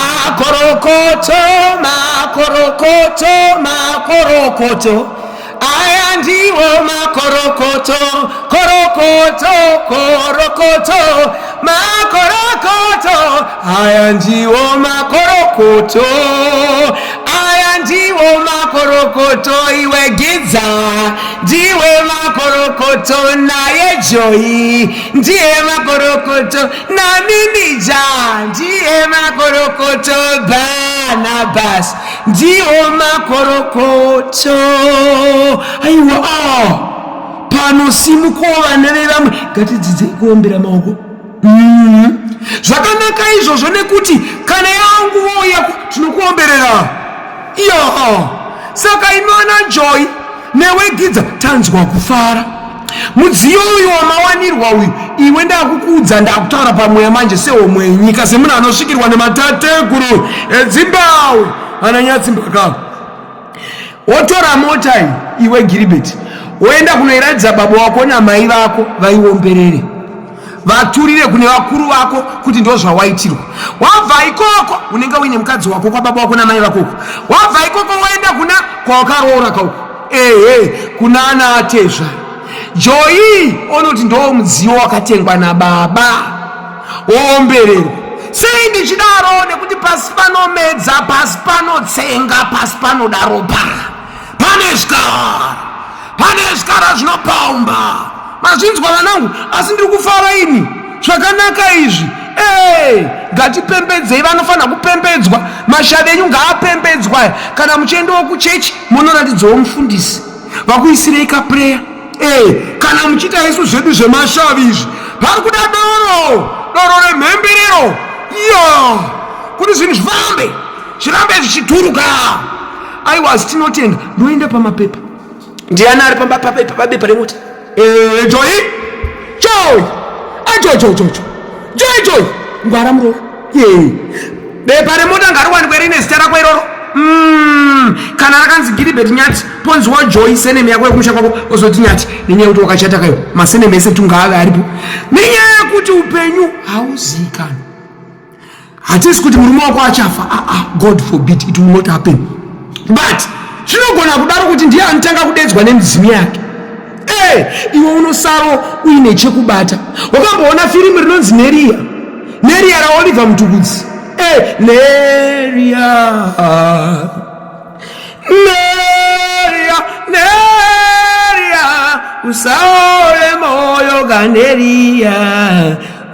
Makorokoto, makorokoto, makorokoto. Aya ndiwo makorokoto, korokoto, korokoto, makorokoto. Aya ndiwo makorokoto, aya ndiwo makorokoto. Iwe Gidza, ndiwe makorokoto, naye Joyi ndiye makorokoto. Namimija ndiye makorokoto Barnabas ndiwo makorokoto aiwa ah, pano simukowo vana vevamwe ngatidzidzei kuombera maoko mm. zvakanaka izvozvo nekuti kana yangu vouya tinokuomberera iyo saka inoona joy newe gidza tanzwa kufara mudziyo uyu wamawanirwa uyu iwe ndakukuudza ndakutaura pamweya manje sehomwe nyika semunhu anosvikirwa nematateguru edzimbawe ananyatsimbakavo wotora mota iwe giribeti woenda kunoiratidza baba wako namai vako vaiomberere vaturire kune vakuru vako kuti ndo zvawaitirwa wabva ikoko unenge uine mukadzi wako kwababa wako namai vakoko wabva ikoko woenda kuna kwawakaroora kauko ehe kuna ana atezva joyi onoti ndo mudziyo wakatengwa nababa woombererwa sei ndichidaro nekuti pasi panomedza pasi panotsenga pasi panoda ropa pane zvikara pane zvikara zvinopomba mazvinzwa vanangu asi ndiri kufara ini zvakanaka izvi ee ngatipembedzei vanofanira kupembedzwa mashavi enyu ngaapembedzwa aya kana muchiendawo kuchechi munoratidzawo mufundisi vakuisirei kapureya ee kana muchiita isu zvedu zvemashavi izvi pari kuda doro doro remhemberero iyo kuti zvinhu zvifambe zvirambe zvichituruka aiwa asi tinotenda ndoenda pamapepa ndiani ari pabepa remota eh, joy joy ajojojojo ah, joy joy ngwara muroora bepa remota ngariwanikwe rine zita rako iroro mm, kana rakanzi giribet nyati ponziwa joy seneme yako yekumusha kwako ozoti nyati nenyaya yekuti wakachata kayo maseneme ese tungaave aripo nenyaya yekuti upenyu hauziikani hatisi kuti murume wako achafa aa ah, ah, god forbid it will not happen but zvinogona kudaro kuti ndiye anotanga kudedzwa nemidzimu yake e eh, iwe unosaro uine chekubata wakamboona firimu rinonzi neriya neriya raoliver mutukudzi e eh, neriya neriya neriya usaore moyo kaneriya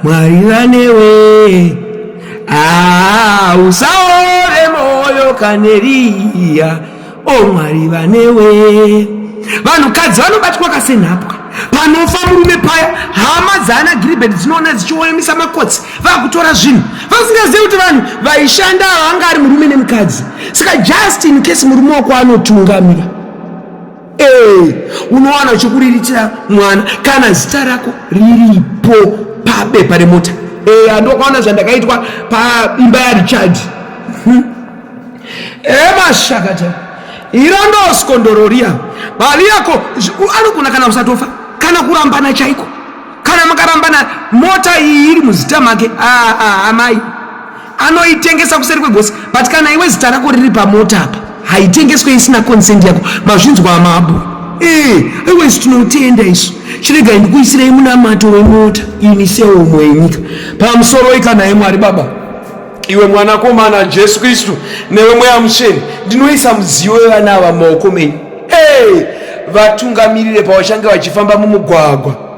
Mwari vanewe ah, usaore moyo kaneriya o oh, Mwari vanewe vanhukadzi vanobatwa kasenhapwa panofa murume paya hama dzaana giribheti dzinoona dzichioemisa makotsi vakutora zvinhu vasingazivi kuti vanhu vaishanda ava anga ari murume nemukadzi saka just in case murume wako anotungamira Ee, unowana uchikuriritira mwana kana zita rako riripo pabepa remota. Ee, andokaona zvandakaitwa paimba yaRichard. Hm. Ee, mashakata iro ndoskondoria bali yako anogona kana kusatofa kana kurambana chaiko kana makarambana mota iyi iri muzita make ah, ah, amai ah, anoitengesa kuseri kwegosi but kana iwe zita rako riri pamota apa haitengeswe isina consent yako mazvinzwa amabo eh, iwezi tinotenda isu chiregai ndikuisirei munamato wemota ini seomwe yenyika pamusoro ikanaye mwari baba iwe mwanakomana jesu kristu newe mweya mutsveni ndinoisa mudziyo wevana ava mumaoko menyu hey! vatungamirire pavachange vachifamba mumugwagwa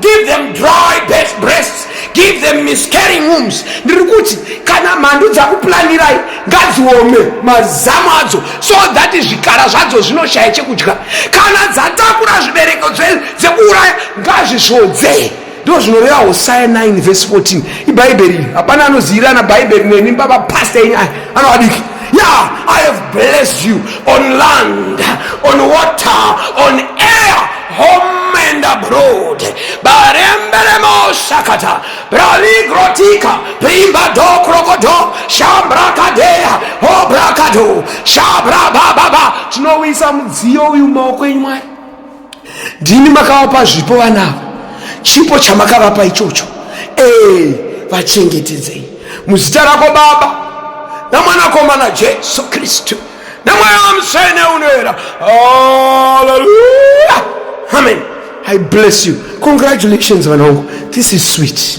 give them dry best breasts give them miscarrying wombs ndiri kuti kana mhandu dzakuplanirai ngadziome mazamu adzo so that zvikara zvadzo zvinoshaya chekudya kana dzatakura zvibereko dzekuuraya ngazvisvodzee ndo zvinoreva hosaya 9 vhesi 14 ibhaibheri hapana anozivirana bhaibheri neni baba pasta enyu aya anovadiki ya i have blessed you on land on water on air home and abroad baremberemosakata bravigrotika primbado krokodo shambrakadeya hobrakado shabrabababa tinowisa mudziyo uyu maoko enyu mwari ndimi makavapa zvipo vanavo chipo chamakavapa ichocho ee vachengetedzei muzita rako baba namwanakomana jesu kristu nemweya wamutsvene unoera haleluya amen i bless you congratulations vanangu this is sweet